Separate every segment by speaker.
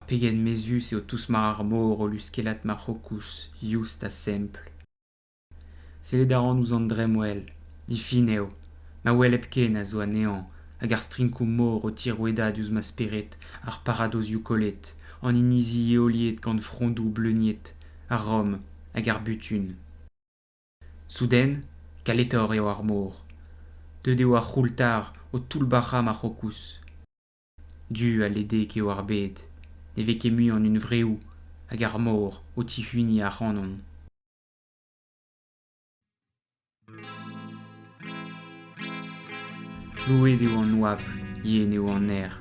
Speaker 1: Pegen mezhus eo tousmar ar mor o luskellat ma c'hokouz youst ha sempl. Sellet a ran ouzh an dremmwel, difin eo, ma wel hepken a zo anezhañ hag ar strinkoù-mor o tirouedañ diouzh ma spered ar paradozioù kollet, an inizi eoliet gant frondoù bleuniet, ar Rom hag ar butun. Souden, kaletor eo ar mor. Deuet eo ar c'houltar o toullbac'hañ ma c'hokouz. Du ha ledek eo ar bed, ne vez ket mui an hunvreoù hag ar mor o tihuniñ ac'hanon. Louet eo an oabl, yen eo an aer,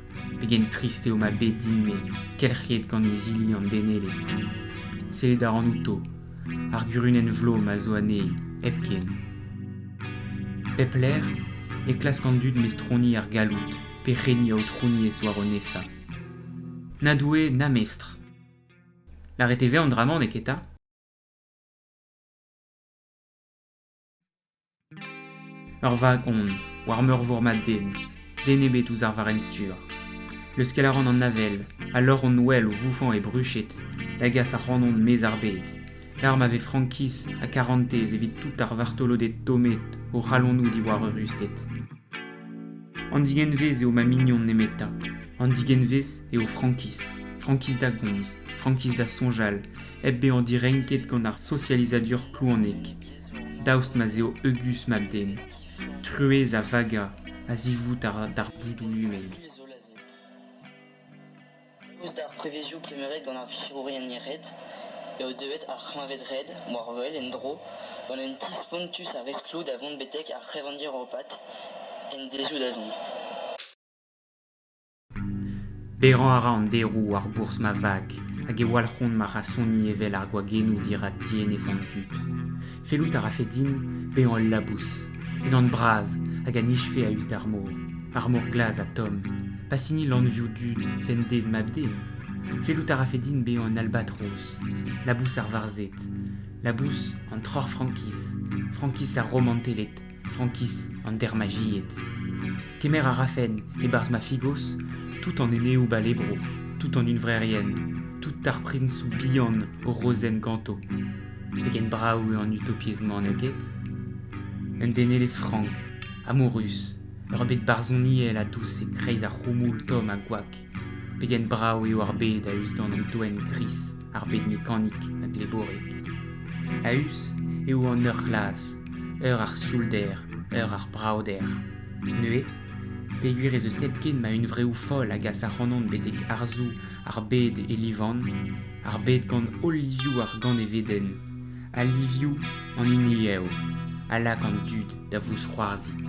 Speaker 1: pegen trist eo ma bed din-me, kelc'hiet gant izili an denelezh. Sellet a ran outo, ar gurunenn vlo ma zo anezhi, hepken. Pep lec'h e klask an dud mestroni ar galloud, perc'henni aotrouniezh war o nesañ. Na doue na mestr. Lâret e vez an dra-mañ, neketa Ur vag on, war meurvor ma den, den ebet ouzh ar varrenn-stur. Leuskel a ran an avel, a lor on ouel o voufañ e bruched, da gas ac'hanon maez ar bed. Lar ma vez frankiz ha karantez evit tout ar vartoloded tommet o c'halonoù diwar eurusted. An digenvez eo ma mignon nemetañ. An digenvez eo frankiz. Frankiz da gomz, frankiz da soñjal, hep bezañ direnket gant ar sosializadur klouanek. daoust ma 'z eo heugus mab-den, truez a vaga a-zivout ar boudoù lumen. Eus d'ar prevezioù kemeret gant ar virourien red eo deuet ar c'hleñved red, moarvel, en-dro, gant un ti spontus a resklou da vont betek ar c'hevandir europat en dezhoù-dazont. Paeañ a ra an deroù war bourzh ma vag hag e walc'hont ma c'hasoni evel ar gwagennoù dirak dienez an dud. Fellout a rafe din bezañ ul labous, unan bras hag a nijfe a-us d'ar mor, ar mor glas ha tomm, pas hini lanvioù du fended mab-den. Fellout a rafe din bezañ un albatros, labous ar varzhed, labous an troc'h frankiz, frankiz ar romanteled. frankiz an dermajied. Kemer a rafen e-barzh ma figos tout an eneoù-bale bro, tout an hunvrerien, tout ar prinsoù bihan o rozenn ganto. Pegen brav eo an utopiezh-mañ n'eo ket? Un denelezh frank, amourus, ur bed barzhoniel a dous e-kreiz ar c'houmoul tomm ha gwak. Pegen brav eo ar bed a-us gant an doenn gris, ar bed mekanik ha gleborek. A-us eo an eur c'hlas, eur ar sioulder, eur ar bravader. Neuze, peogwir ez eus hepken ma hunvreoù foll a gas ac'hanon betek arzoù ar bed e livan, ar bed gant holl livioù ar ganevedenn, al livioù an hini eo a lak an dud da vousc'hoarzhiñ.